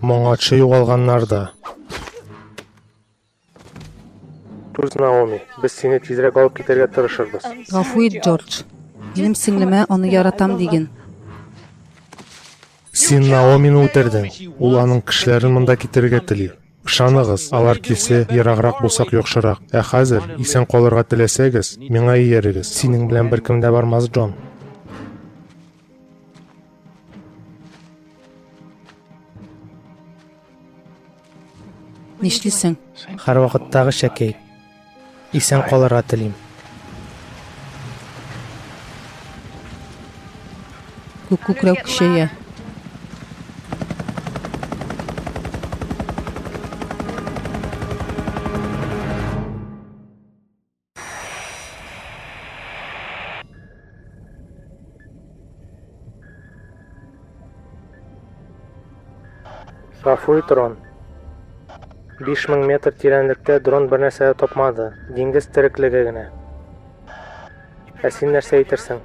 Моңарчы югалганнар да. Туз Наоми, без сине тизрәк алып китәргә тырышырбыз. Гафу ит, Джордж. Минем сеңлемә аны яратам диген. Син Наомины үтердең. Ул аның кешеләрен монда китерергә тели. Ышаныгыз, алар килсә, ераграк булсак яхшырак. Ә хәзер, исән калырга теләсәгез, миңа иярегез. Синең белән беркем дә бармас, Джон. Нишлисең? Һәрвакыттагы шәкәй. Исән калырга телим. Күк күкрәү көчәя. Гафу ит, Рон. 5000 метр тирәнлектә дрон бер нәрсә дә тапмады. Диңгез тереклеге генә. Ә син нәрсә әйтерсең?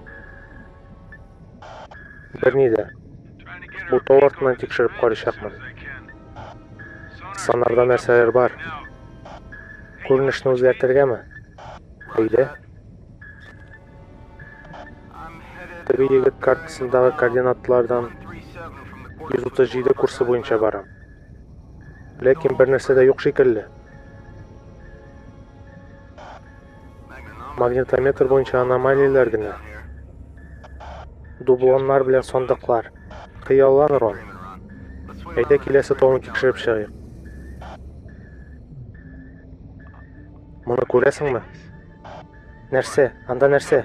Берни дә. Бутау артыннан тикшереп карыйчакмын. Санарда нәрсәләр бар? Күренешне үзгәртергәме? Әйдә. Теге егет картасындагы координатлардан 137 курсы буенча барам. Ләкин бер нәрсә дә юк шикелле. Магнитометр буенча аномалияләр генә. Дублоннар белән сандыклар. Хыяллан, Рон. Әйдә киләсе тавын тикшереп чыгыйк. Моны күрәсеңме? Нәрсә? Анда нәрсә?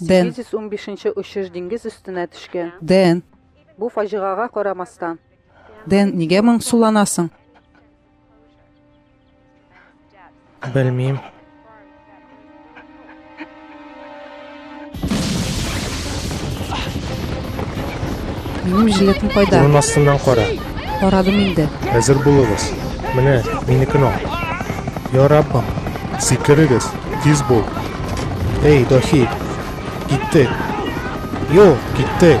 Дэн. 815 нче очыш диңгез өстенә төшкән. Дэн. Бу фаҗигага карамастан. Дэн, нигә моңсуланасың? Белмим. Минем жилетым кайда? Урын астыннан кара. Карадым инде. Әзер булыгыз. Менә, минекен ал. Я Раббым, сикерегез, тиз бул. Эй, Дохи, киттек. Йо, киттек.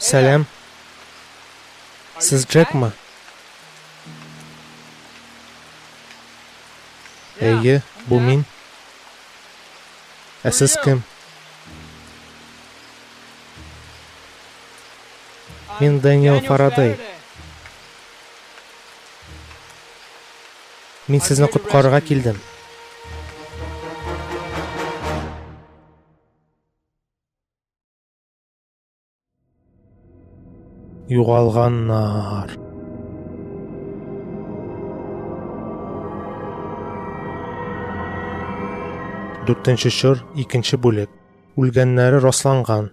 Сәлам. Сез Джекмы? Әйе, бу мин. Ә сез кем? Мин Дэниел Фарадей. Мин сезне коткарырга килдем. Югалганнар. Дүртенче чор, икенче бүлек. Үлгәннәре расланган.